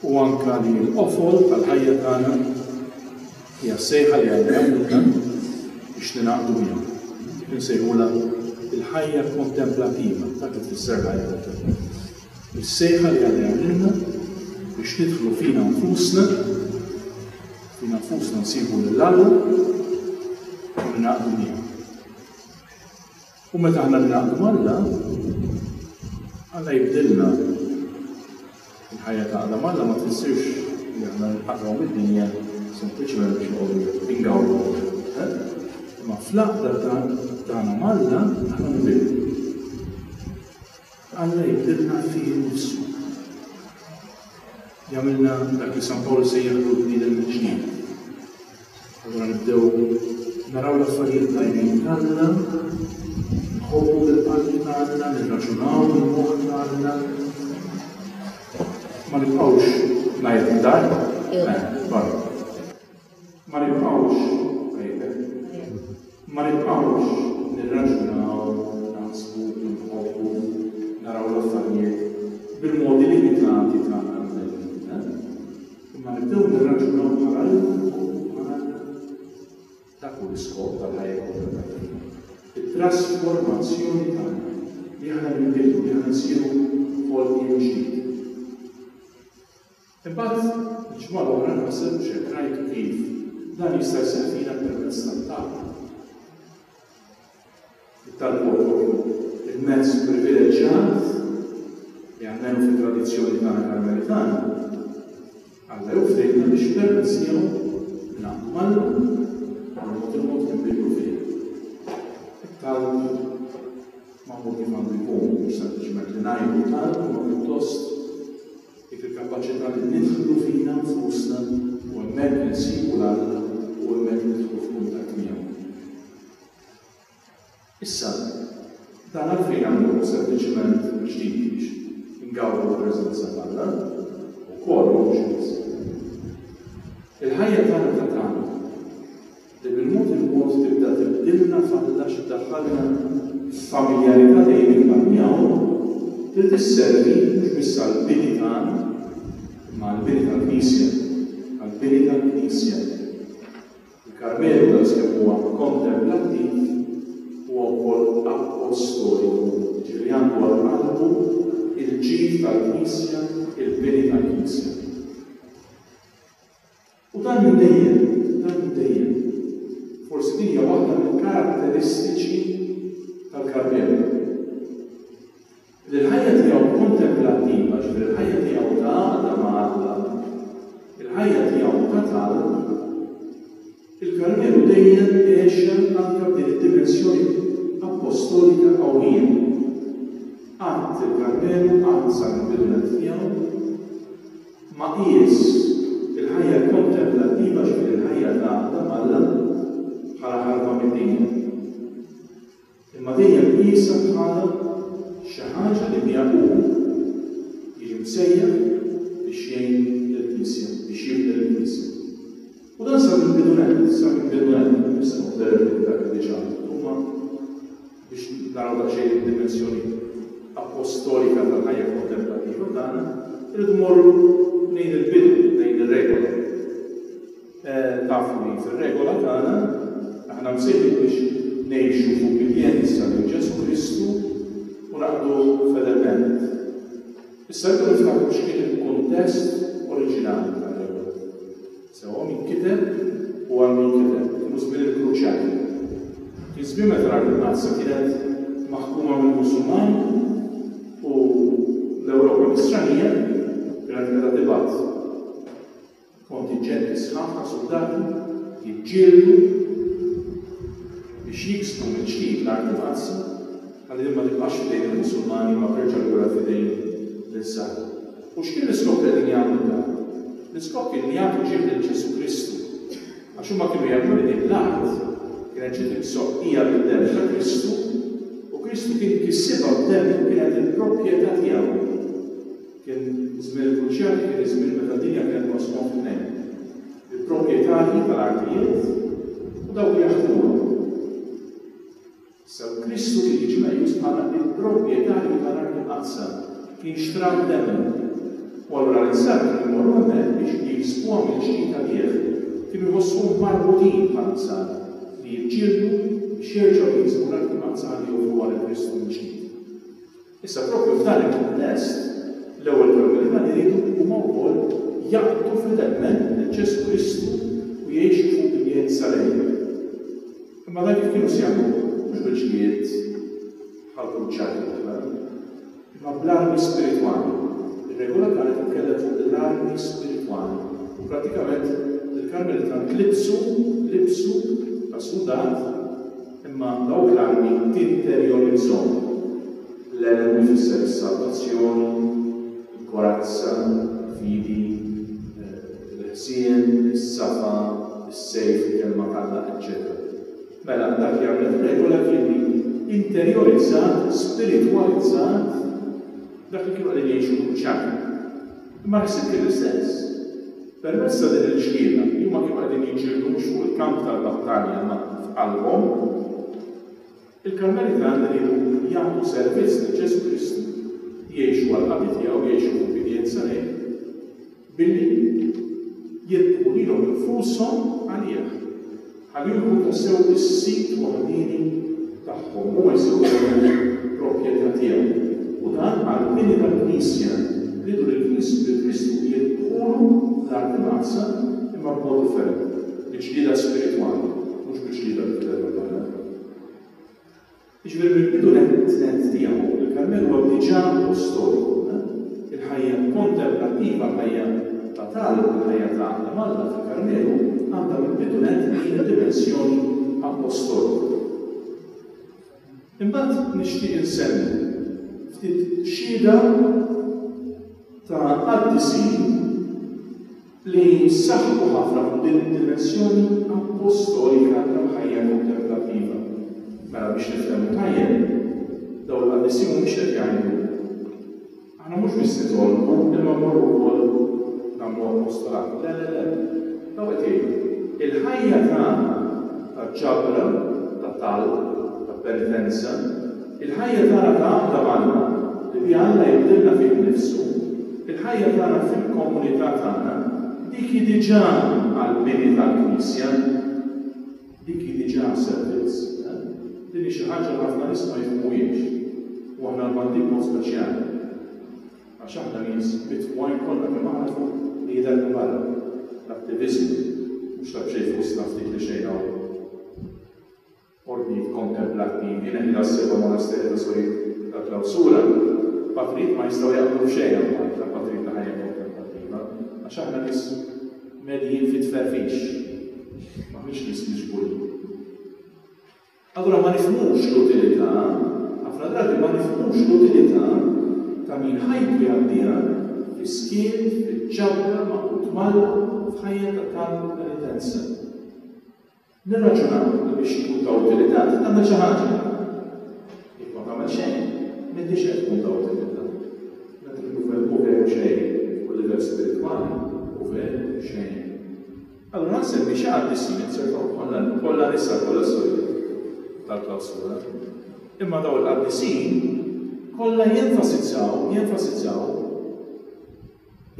u anke li l-qofol tal-ħajja tagħna hija s-sejħa li Alla jagħmilna biex ningħaqdu miegħu. Dik insejħulha l-ħajja kontemplativa, dak li tfisser l-ħajja kontemplativa. Is-sejħa li Alla jagħmilna biex nidħlu fina nfusna, fina nfusna nsibu lil Alla u ningħaqdu miegħu. U meta aħna ningħaqdu m'Alla, Alla jibdilna. Il-ħajja ta' għaqda m'Alla ma tfissirx li aħna nqatgħu mid-dinja sempliċement biex noqogħdu ingawdu. Eh? Imma fl-għaqda tagħna m'Alla aħna nbidlu. Alla jibdilna fih innifsu. Jagħmilna dak li San Pawl sejjaħlu l-bniedem mill-ġdid. Allura nibdew naraw l-affarijiet tajbin t'Alla, nħobbu bil-qalb t'Alla, nirraġunaw bil-moħħ t'Alla. Ma nibqgħux ngħid dar, eh, barra. Ma nibqgħux, għidlek. Ma nibqgħux nirraġunaw, naħsbu, inħobbu, naraw l-affarijiet bil-modi limitati tagħna l-bnedmin, eh? Imma nibdew nirraġunaw bħal Alla u bħal dak hu l-iskop tal-ħajja kollha tagħna. It-trasformazzjoni tagħna li aħna nbidlu, li aħna nsiru ħolqien ġdid. Imbagħad, il-ġimgħa l-oħra nħasseb biex hekk ngħidu kif, dan jista' jsir fina permezz tat-talb. It-talb huwa propju l-mezz privileġġjat li almenu fit-tradizzjoni tagħna Karmelitana, Alla jew ħdejna biex permezz tiegħu nilaqgħu mal-Mulej u b'mod il-mod ninbidlu fih. It-talb magħmul kif għandu jkun, mhux sempliċement li ngħidu talb, imma pjuttost Dik il-kapaċità li nidħlu fina nfusna u hemmhekk insibu l-Alla u hemmhekk nidħlu f'kuntatt miegħu. Issa, dan għalfejn nagħmluh sempliċiment biex nidhiex ingawdu l-preżenza t'Alla? Ukoll mhux biss. Il-ħajja tagħna ta' tagħna li bil-mod il-mod tibda tibdilna f'Alla xi ddaħħalna f'familjarità dejjema miegħu, li tisservi mhux biss għall-bini tagħna, imma għall-bini tal-Knisja, għall-bini tal-Knisja. Il-Karmelu, daqskemm huwa kontemplattiv, huwa wkoll appostoliku, jiġifieri għandu għal qalbu l-ġid tal-Knisja, il-bini tal-Knisja. U dan minn dejjem, dan minn dejjem. Forsi din hija waħda mill-karatteristiċi tal-Gabriele. Li l-ħajja tiegħu kontemplattiva, ġifieri l-ħajja tiegħu ta' għaqda ma' Alla, il-ħajja tiegħu ta' talb, il-Karmelu dejjem għexha anke b'din id-dimensjoni appostolika qawwija. Qatt il-Karmelu, qatt sal-bidunet tiegħu, Ma qies il-ħajja kontemplattiva, ġifieri l-ħajja ta' qagħda m'Alla, bħala ħarba mid-dinja. Imma dejjem qiesha bħala xi ħaġa li biha hu jiġi msejjaħ biex jgħin lill-Knisja, biex jibni lill-Knisja. U dan sa mill-bidunet, sa mill-bidunet, nistgħu nverifikaw dak li diġà għamilt, huma Biex naraw daqsxejn id-dimensjoni appostolika tal-ħajja kontemplattiva tagħna, irridu mmorru lejn il-bidu, lejn ir-regola. Tafu li fir-regola tagħna aħna msejħin biex ngħixu f'ubbidjenza lil Ġesù Kristu u naqduh fedelment. Issa rridu niftakru x'kien il-kuntest oriġinali sewwa min kiteb u għal min kiteb, kienu żmien il-Kruċjati. Kien żmien meta l-Art il-Mqaddsa kienet maħkuma mill-Musulmani u l-Ewropa Nisranija kienet qiegħda tibgħat kontinġenti sħaħ ta' suldati jiġġieldu biex jiksbu mill-ġdid l-Art il-Mqaddsa ħalli din ma tibqax f'idejn il-Musulmani imma terġa' lura f'idejn l-Insara. U x'kien l-iskop ta' din jagħmlu dan? L-iskop kien li jagħtu ġieħ lil Ġesù Kristu. Għax huma kienu jemmnu li din l-art kienet ġiet imsoqqija bid-demm ta' Kristu u Kristu kien kissibha b'demm li kienet il-propjetà tiegħu. Kien żmien il-Kruċjati kien iż-żmien meta d-dinja kienet maqsuma f'tnejn. Il-propjetarji tal-artijiet u dawk li jaħdmuha. Sew Kristu kien jiġi meqjus bħala l-proprjetarju tal-art imqaddsa, kien xtra d-demm, u allura l-insara kienu jmorru hemmhekk biex jiksbuha mill-ġdida bih, kienu jħossuhom marbutin bħall-insara li jiġġieldu biex jerġgħu jiksbu l-art imqaddsa ħalli joffruha lil Kristu mill-ġdid. Issa proprju f'dan il-kuntest, l-ewwel kollu li ma jridu huma wkoll jaqbdu fedelment lil Ġesù Kristu u jgħixu f'ubbidjenza lejh. Imma dan kif kienu se jagħmluh? Mhux bil-ġlied bħall-kruċjati l-oħra, imma bl-armi spiritwali. Ir-regola tagħna titkellem fuq l-armi spiritwali u prattikament il-Karmelitani tlibsu, libsu ta' suldat, Imma dawk l-armi interjorizzhom, l-għelem ifisser is-salvazzjoni, il-korazza, il-fidi, il-ħsien, is-safa, is-sejf, il-kelma t'Alla, eċċetera Mela, dak jagħmel f'regola kien li interjorizzat, spiritwalizzat dak li kienu qegħdin jgħixu l-Kruċjati. Imma ħsieb kien is-sens. Permezz ta' din il-ġlieda, li huma kienu qegħdin jiġġieldu mhux fuq il-kamp tal-battalja imma f'qalbhom, il-Karmelitani riedu jagħtu servizz lil Ġesù Kristu, jgħixu għall-qadi tiegħu, jgħixu f'ubbidjenza lejh, billi jilqgħu lilhom infushom għalih. Għal juru tassew is-sit waħdieni tagħhom, huma jsiru kollu proprjetà tiegħu. U dan għall-bini tal-Knisja. Rridu li l-Knisja u lil Kristu jidħulu fl-art imqaddsa, imma b'mod differenti, bi ġlieda spiritwali, mhux bi ġlieda bil-kelma tagħna. Jiġifieri mill-bidu nett tiegħu, il-Karmel huwa diġà post storiku. Il-ħajja kontemplativa, l-ħajja ta' talb, il-ħajja ta' għaqda m'Alla fil-Karmelu għandha mill-bidu nett din id-dimensjoni appostolika. Imbagħad nixtieq insemmi ftit xhieda ta' qaddisin, li jsaħħu ħafna fuq din id-dimensjoni appostolika tal-ħajja kontemplattiva. Mela biex nifhmu tajjeb, dawn il-qaddisin mhumiex qed jgħidu, Aħna mhux biss nitolbu, imma mmorru wkoll nagħmlu apostolat. Le, le, le. Dawn qed jgħidu, il-ħajja tagħna ta' ġabra, ta' talb, ta' penitenza, Il-ħajja tagħna ta' għaqda m'Alla, li biha Alla jibdilna fih innifsu, il-ħajja tagħna fil-komunità tagħna, dik hi diġà għall-bini tal-Knisja. Dik hi diġà servizz. Din hi xi ħaġa li ħafna nies ma jifhmuhiex. U aħna l-Maltin b'mod speċjali. Għax aħna nies mitwajn kollha kemm aħna fuq li jidher ta' barra. L-attiviżmu, mhux ta' b'xejn fostna ftit li xejn hawn. ordnijiet kontemplattivi, Nella, s-seba' monasterji ta' sorijiet ta' klawsura, patrijiet ma jistgħu jaqblu f'xejn abbard tal-patrijiet ta' ħajja kontemplattiva, għax aħna nies medjin fit-tferfix, m'aħniex nies miġburin. Allura ma nifhmux l-utilità, ħafna drabi ma nifhmux l-utilità ta' min ħajtu jgħaddiha fis-skiet, fil-ġabra, maqud m'Alla, f'ħajja ta' talb penitenza. Nirraġunaw li biex tkun ta' utilità trid tagħmel xi ħaġa. Jekk ma tagħmel xejn, m'intix qed tkun ta' utilità. Dak li hu veru veru xejn fuq il-livell spiritwali hu veru xejn. Allura nsemmi xi qaddisin li nserħu bħala kollha nisa, kollha sorijiet tal-klawsura. Imma dawn il-qaddisin kollha jenfasizzaw, jenfasizzaw,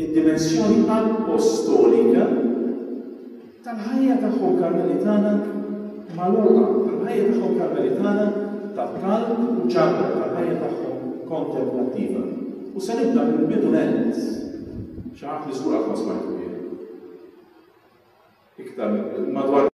id-dimensjoni appostolika tal-ħajja tagħhom Karmelitana magħluqa, tal-ħajja tagħhom Karmelitana ta' talb u ġarrab, tal-ħajja tagħhom kontemplattiva. U se nibda mill-bidu nett, xi ħadd li żgur qatt ma smajtu bih. Iktar madwar